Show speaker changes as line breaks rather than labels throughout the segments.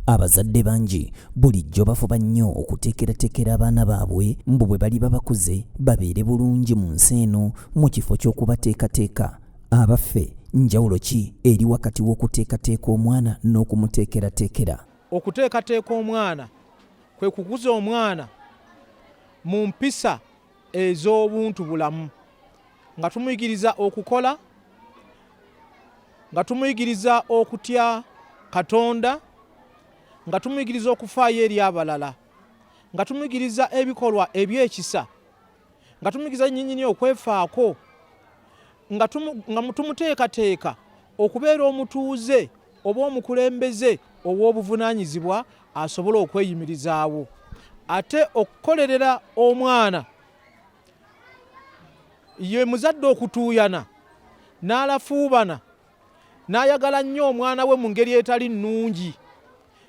Abazadde bangi bulijjo bafuba nnyo okuteekerateekera abaana baabwe mbu bwe baliba bakuze babeere bulungi mu nsi eno mu kifo ky'okubateekateeka. Abaffe, njawulo ki eri wakati w'okuteekateeka omwana n'okumuteekerateekera? Okuteekateeka
omwana kwe kukuza omwana mu mpisa ez'obuntu bulamu nga tumuyigiriza okukola nga tumuyigiriza okutya katonda nga tumuyigiriza okufaayo eri abalala nga tumuyigiriza ebikolwa ebyekisa nga tumuyigiriza nyinyini okwefaako nga tumuteekateeka okubeera omutuuze oba omukulembeze ow'obuvunaanyizibwa asobola okweyimirizaawo ate okukolerera omwana ye muzadde okutuuyana n'alafuubana n'ayagala nnyo omwana we mu ngeri etali nnungi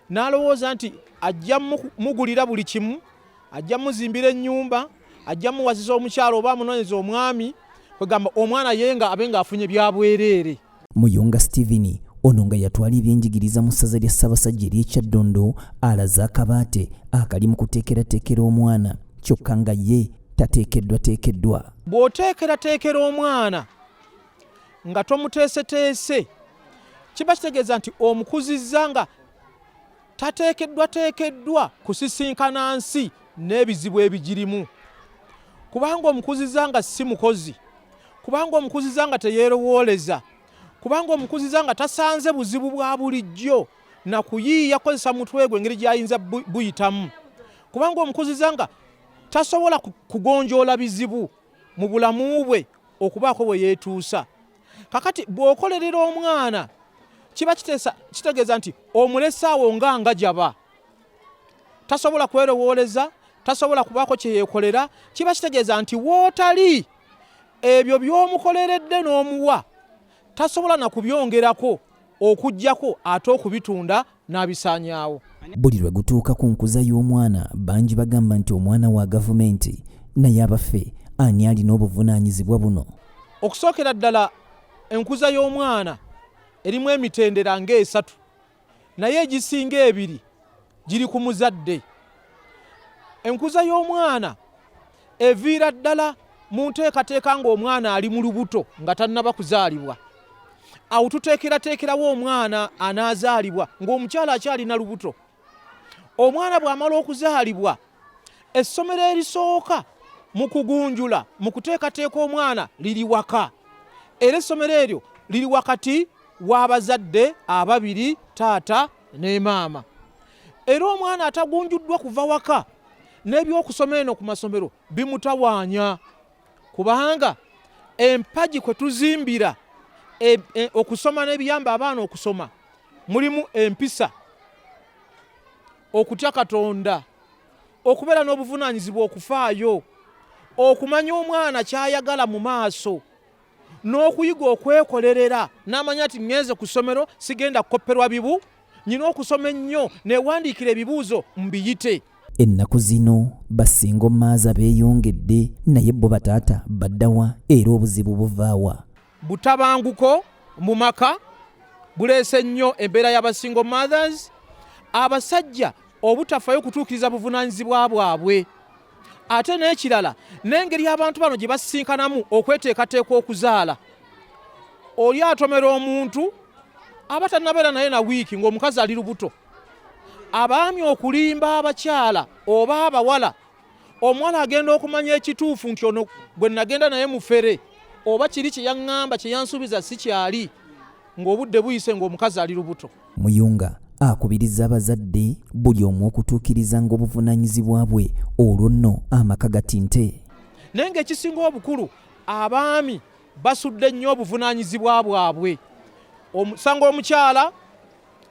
n'alowooza nti ajja mugulira buli kimu ajja muzimbira ennyumba ajja muwaziza omukyalo oba amunoonyeza omwami kwegamba omwana ye nga abe ng'afunye byabwereere muyunga steven
ono nga yatwala ebyenjigiriza mu ssaza lya ssabasajja ery'ekyaddondo alaze akabaate akali mu kuteekerateekera omwana kyokka nga ye tateekeddwateekeddwa bw'oteekerateekera
omwana nga tomuteeseteese kiba kitegeeza nti omukuzizza nga tateekeddwateekeddwa kusisinkana nsi n'ebizibu ebigirimu kubanga omukuzizza nga si mukozi kubanga omukuzizza nga teyeerowooleza kubanga omukuzizza nga tasanze buzibu bwa bulijjo na kuyiiya kozesa mutwe gwe engeri gy'ayinza buyitamu kubanga omukuzizza nga tasobola kugonjoola bizibu mu bulamu bwe okubaako bwe yeetuusa kakati bw'okolerera omwana kiba kitegeeza nti omulesaawo nga nga jaba tasobola kwerowooleza tasobola kubaako kye yeekolera kiba kitegeeza nti wootali ebyo by'omukoleredde n'omuwa tasobola na kubyongerako okujjako ate okubitunda n'abisaanyaawo. Buli lwe
gutuuka ku nkuza y'omwana bangi bagamba nti omwana wa gavumenti naye abaffe ani alina obuvunaanyizibwa buno? Okusookera
ddala enkuza y'omwana erimu emitendera ng'esatu. naye egisinga ebiri giri ku muzadde. Enkuza y'omwana eviira ddala mu nteekateeka ng'omwana ali mu lubuto nga tannaba kuzaalibwa. Awo tuteekerateekerawo omwana anaazaalibwa ng'omukyala akyali na lubuto. Omwana bw'amala okuzaalibwa, essomero erisooka mu kugunjula mu kuteekateeka omwana liri waka, era essomero eryo liri wakati w'abazadde ababiri taata ne maama era omwana atagunjuddwa kuva waka n'ebyokusoma eno ku masomero bimutawaanya kubanga empagi kwe tuzimbira e, e, okusoma n'ebiyamba abaana okusoma mulimu empisa okutya katonda okubeera n'obuvunaanyizibwa okufaayo okumanya omwana ky'ayagala mu maaso n'okuyiga okwekolerera n'amanya nti ŋŋenze ku ssomero sigenda kukopperwa bibu nyina okusoma ennyo newandiikira ebibuuzo mbiyite ennaku zino
basinga omaaza beeyongedde naye bo bataata baddawa era obuzibu buvaawa butabanguko
mu maka buleese nnyo embeera y'abasingo mothers abasajja obutafayo kutuukiriza buvunaanyizibwa bwabwe ate n'ekirala n'engeri abantu bano gye basisinkanamu okweteekateeka okuzaala oli atomera omuntu aba tannabeera naye na wiiki ng'omukazi ali lubuto abaami okulimba abakyala oba abawala omuwala agenda okumanya ekituufu nti ono gwe nagenda naye mufere oba kiri kye yaŋŋamba kye yansuubiza si kyali ng'obudde buyise ng'omukazi ali lubuto. Muyunga
akubiriza abazadde buli omu okutuukiriza ng'obuvunaanyizibwa bwe olwo nno amaka gatinte. Naye ng'ekisinga
obukulu abaami basudde nnyo obuvunaanyizibwa bwabwe. Omusango omukyala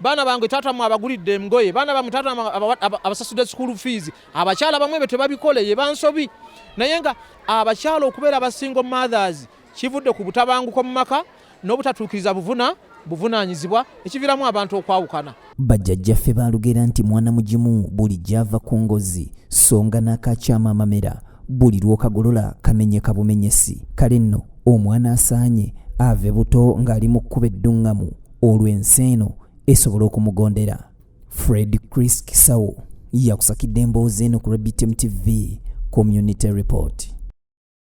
baana bange taata mwe abagulidde emgoye baana bamwe taata abasasudde school fees abakyala bamwe ebyo tebabikole ye bansobi naye nga abakyala okubeera abasingo mothers kivudde ku butabanguko mu maka n'obutatuukiriza buvuna buvunaanyizibwa ekiviramu abantu okwawukana bajjajjaffe
baalugera nti mwana mugimu buli gyava ku ngozi songa n'akakyama amamera buli lw'okagolola kamenyeka bumenyesi kale nno omwana asaanye ave buto ng'ali mu kkuba edduŋŋamu olwo ensi eno esobola okumugondera fred chris kisawo yakusakidde emboozi eno ku rebtm tv community report